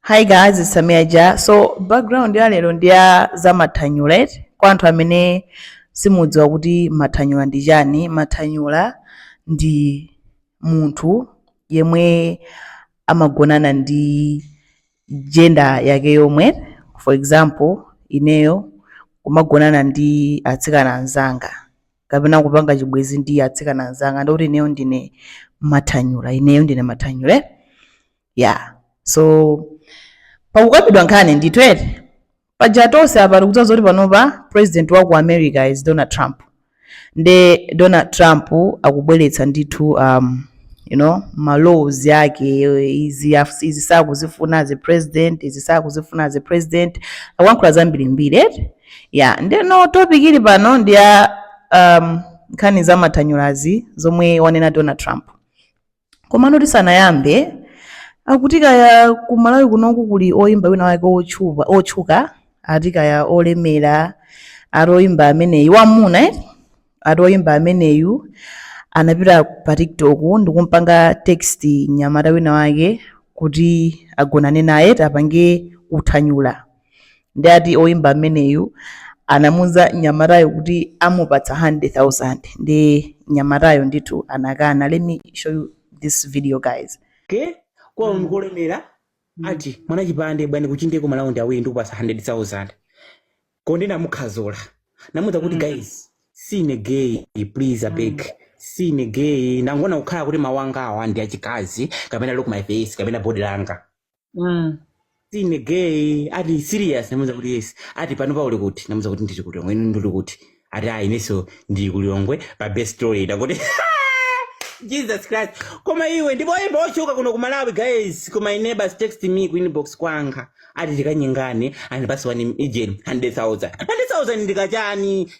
Hi guys, it's Samia Ja. So background ya lero ndi ya zamathanyula eti kwa anthu amene simudziwa kuti mathanyula ndi chani. Mathanyula ndi munthu yemwe amagonana ndi gender yake yomwe for example ineyo kumagonana ndi atsikana anzanga kapena kupanga chibwezi ndi atsikana anzanga ndikuti ineyo ndine mathanyula ineyo ndine mathanyula eh? ya so pakukambidwa nkhani ndithu eti paja tonse apa tikudziwa zoti panopa president wa ku america is donald trump nde donald trump akubweretsa ndithu um, you know ma laws yake izi af- izi sakuzifuna as a president izi sakuzifuna as a president akuyankhula zambirimbiri eti ya ndeno topic ili pano ndi ya um, nkhani za mathanyulazi zomwe wanena donald trump komano tisanayambe akuti kaya ku malawi kunoko kuli oyimba wina wake otchupa- otchuka ati kaya olemera ati oyimba ameneyu wamuna eh? ati oyimba ameneyu anapita pa tiktok ndikumpanga text nyamata wina wake kuti agonane naye apange uthanyula ndi ati oyimba ameneyu anamuuza nyamatayo kuti amupatsa 100,000 ndi nyamatayo ndithu anakana let me show you this video guys okay kwawo ndikolemera ati mwana chipande bwani kuchindeko malaundi awiri ndikupatsa 100000 konde ndinamukhadzula namuuza kuti guys sine gay please abeg sine gay nanga ngakhale kuti mawu angawa ndi achikazi kapena look my face kapena body langa mm. sine gay ati serious ndamuuza kuti yes ati pano pa uli kuti ndamuuza kuti ndili kulilongwe inu ndili kuti ati ayi ineso ndili kulilongwe pa best story ndakuti jesus christ koma iwe ndipo oimba otchuka kuno ku malawi guys koma my neighbors text me ku inbox kwanga ati tikanyengane and basi azindipatsa 100000 100000 ndikachani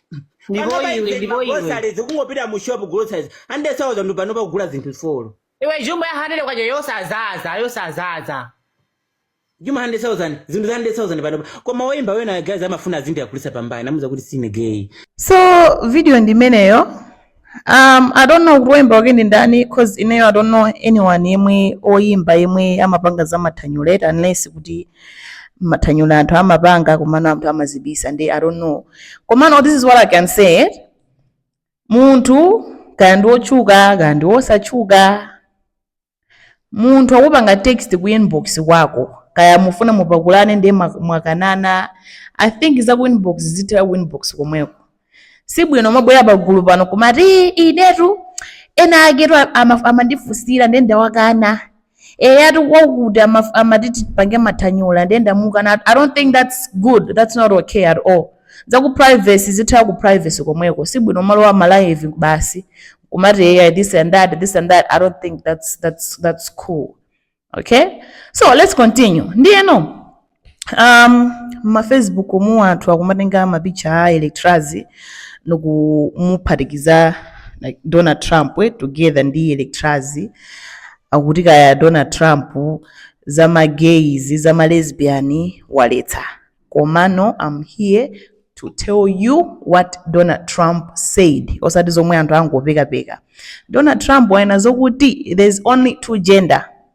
Ndipo iwe, ndipo iwe. groceries kungopita mu shop groceries 100000 pano pa ukugula zinthu four iwe jumbo ya 100 kwacha yosadzaza yosadzaza jumbo 100000 zinthu za 100000 panopa koma woyimba wena guys amafuna azindipakulira pambali namuuza kuti sine gay so video ndi imeneyo um, i don't know kuti oyimba wake ndi ndani cause ineyo i don't know anyone yemwe oyimba yemwe amapanga za mathanyula eti unless kuti mathanyula anthu amapanga komano anthu amazibisa nde i don't know komano this is what i can say munthu kaya ndi wotchuka kaya ndi wosatchuka munthu akakupanga text ku inbox kwako kaya mufuna mupakulane ndiye mwa- mwakanana i think za ku inbox zithere ku inbox komweko sibwino kumabwera pagulu pano kumati "Ii, inetu ena akewa ama- amandifunsira ndiye ndawakana eya ati kwakuti ama- amati tipange mathanyula ndiye nda mukanatu i don't think that's good that's not okay at all za ku privacy zitha ku privacy komweko si bwino malowa ma live basi kumati eya this and that this and that i don't think that's, that's, that's cool okay so let's continue ndiyeno mma facebook mu anthu akumatenga ma picture a electras nkumuphatikiza like donald trump eh, together ndi electras akuti kaya donald trump za ma gays za ma lesbian waletsa komano i'm here to tell you what donald trump said osati zomwe anthu angopekapeka donald trump wanena zokuti there's only two gender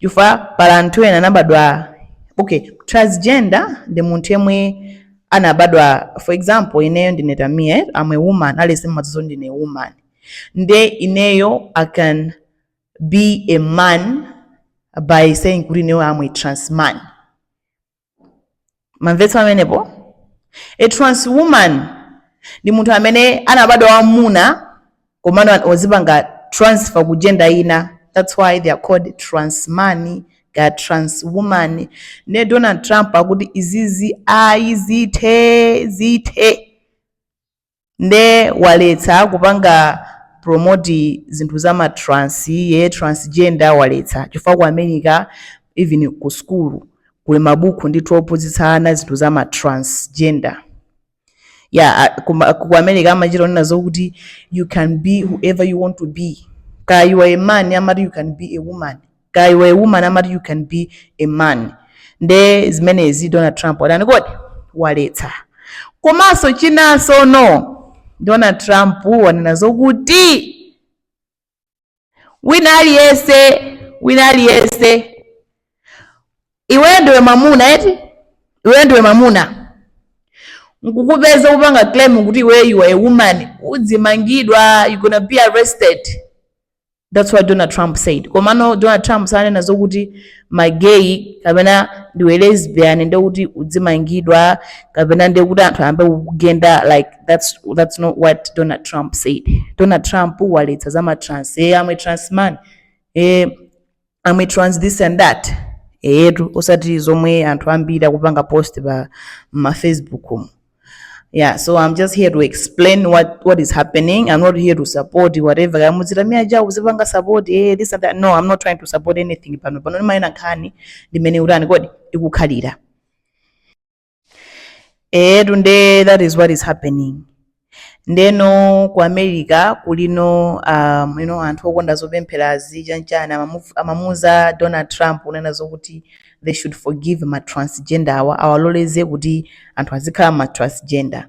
chifukwa pali anthu ena anabadwa okay transgender ndi munthu yemwe anabadwa for example ineyo ndine tamia eh? am a woman aliyense mmadziwa zoti ndine woman nde ineyo i can be a man by saying kuti ineyo am a trans man mwamvetsa amenepo a trans woman ndi munthu amene anabadwa wammuna komano an- wazipanga transfer ku gender ina that's why they are called trans man they are trans woman ne donald trump akuti izizi ayi zithe zithe nde waletsa kupanga promote zinthu za ma trans eh transgender waletsa chifukwa ku America even ku school kuli mabuku ndithu ophunzitsa ana zinthu za ma transgender yeah ku America amachita kunena zokuti you can be whoever you want to be kaya you are a man amati you can be a woman kaya you are a woman amati you can be a man nde zimenezi donald trump watani kodi waletsa komanso chinanso no donald trump wanena zokuti wina aliyense wina aliyense iweyo ndiwe mamuna eti iweyo ndiwe mamuna nkukupeza kupanga claim kuti iweyo you are a woman udzimangidwa you gonna be arrested that's what donald trump said komano donald trump sanena zokuti magay kapena ndiwe lesbian ndekuti udzimangidwa kapena ndekuti anthu ayambe kukugenda like that's, that's not what donald trump said donald trump waletsa za matrans e am a trans man e am a trans this and that eyetu osati zomwe anthu ambiri akupanga post pa ma facebook umu yeah so i'm just here to explain what what is happening i'm not here to support whatever kaya muziti tamia chawo akuzipanga support eh this and that no i'm not trying to support anything pano pano ndimanena nkhani mmene ikutani kodi ikukhalira eyetu nde that is what is happening ndeno ku america kulino anthu okonda zopempherazi chanichani amamuuza donald trump kunena zokuti they should forgive ma transgenderwa awaloleze kuti anthu azikhala ma transgender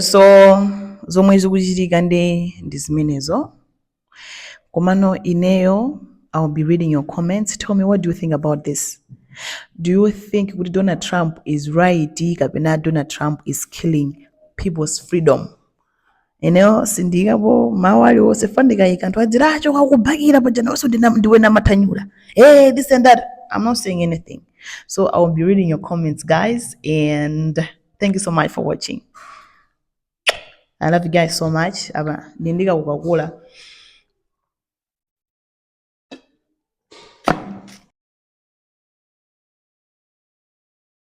So zomwe zikuchitika ndi zimenezo. Komano ineyo I will be reading your comments. Tell me what do you think about this? Do you think kuti Donald Trump is right kapena Donald Trump is killing people's freedom? Ineyo sindiyikapo mawu aliwonse chifukwa ndikayika anthu adziti ah, akubakira paja nawonso ndiwe wamathanyula. Hey, this and that. I'm not saying anything. So I will be reading your comments guys and thank you so much for watching i love you guys so much apa ndindika kukakula